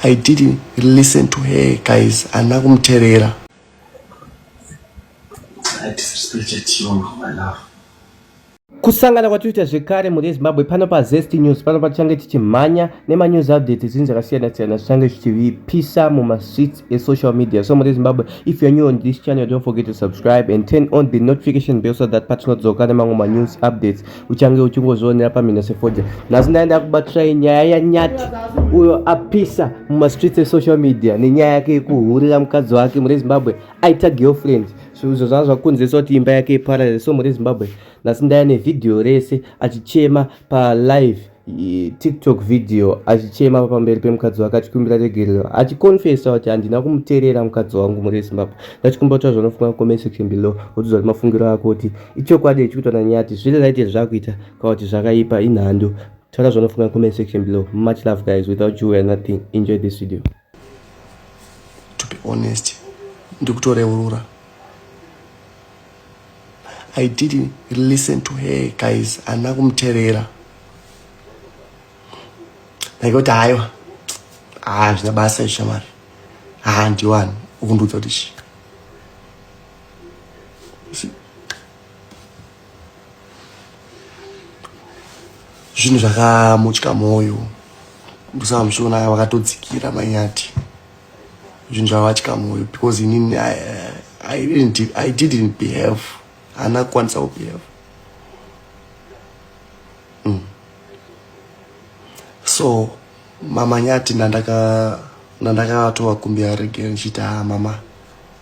I didn't listen to her guys ana kumterera kusangana kwatinoita zvekare mhuri yezimbabwe pano pazest news pano patichange tichimhanya nemanews updates zvinhu zvakasiyana-siyana zvichange zvichivipisa mumastreets esocial media so mhuri yezimbabwe if you're new on this channel don't forget to subscribe and turn on the notification bell so that patinodzoka nemamwe manews updates uchange uchingozvionera pamhino sefodya nhasi ndaenda kubatirai nyaya yanyati uyo apisa mumastreets esocial media nenyaya yake yekuhurira mukadzi wake mure zimbabwe aita girlfriend so izvo zvanga zvakukonzeresa kuti imba yake iparare so mure zimbabwe nhasi ndaya nevhidhiyo rese achichema palive tiktok video achichema pamberi pemukadzi wake achikumbira regerero achiconfesa kuti handina kumuterera mukadzi wangu muri zimbabwe ndachikumba kuti zvanofunga comment section below wotiza kuti mafungiro ako kuti ichokwadi ichikuitwa nanyati zviri right here zvakuita kana kuti zvakaipa inhando taura zvanofunga comment section below much love guys without you we are nothing enjoy this video to be honest ndikutoreurura i didn't listen to her guys ana kumuterera ndaikuti haiwa haa zvina basa ishamari haa ndiwani ukundiudza kuti chii zvinhu zvakamutya mwoyo ndosamusvona aya vakatodzikira manyati zvinhu zvavavatya mwoyo because inini I, I, didn't, i didn't behave haana kukwanisa kubehave mm. so mamanyati nandakatovakumbira rege ndichiita mama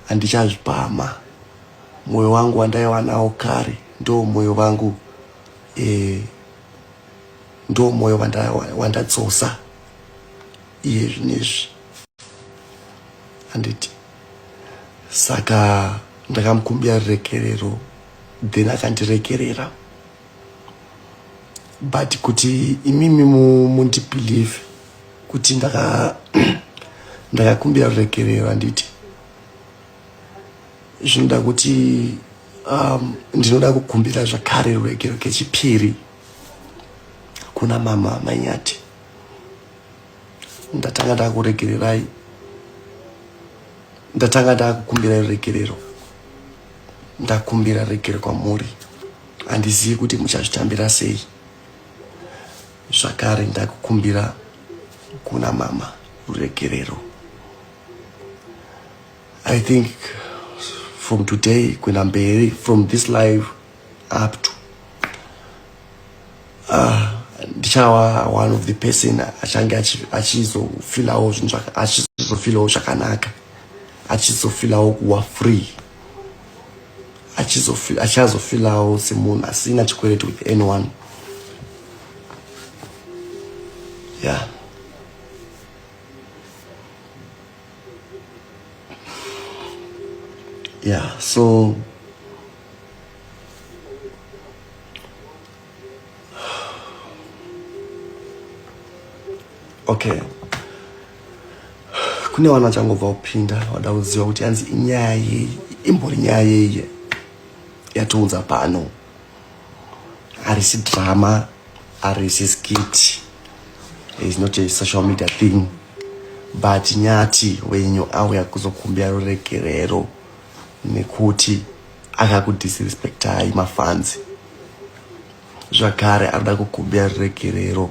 handichazvipama Moyo wangu wandaiva nawo kare ndo moyo vangu eh, ndo moyo wandadzosa wanda iye zvinezvi handiti saka ndakamukumbira rurekerero then akandirekerera but kuti imimi mundibelieve kuti ndakakumbira rurekerero handiti zvinoda kuti um, ndinoda kukumbira zvakare ruregero kechipiri kuna mama manyati ndatanga ndakuregererai ndatanga ndakukumbira ruregerero ndakumbira ruregero kwamuri handizivi kuti muchazvitambira sei zvakare ndakukumbira kuna mama ruregerero I think from today kuenda mberi from this live up to ah, ndichava uh, one of the person achange achizofilawo zvinhu achizofilawo zvakanaka achizofilawo kuwa free achazofilawo semunhu asina chikwereti with anyone yeah yeah so okay kune vana vachangobva kupinda vada kuziva kuti yanzi inyaya yei imbori nyaya yeiye yatiunza pano arisi drama arisi skit is not a social media thing but nyati wenyu auya kuzokumbira ruregerero nekuti akakudisrespectai mafanzi zvakare anoda kukumbira ruregerero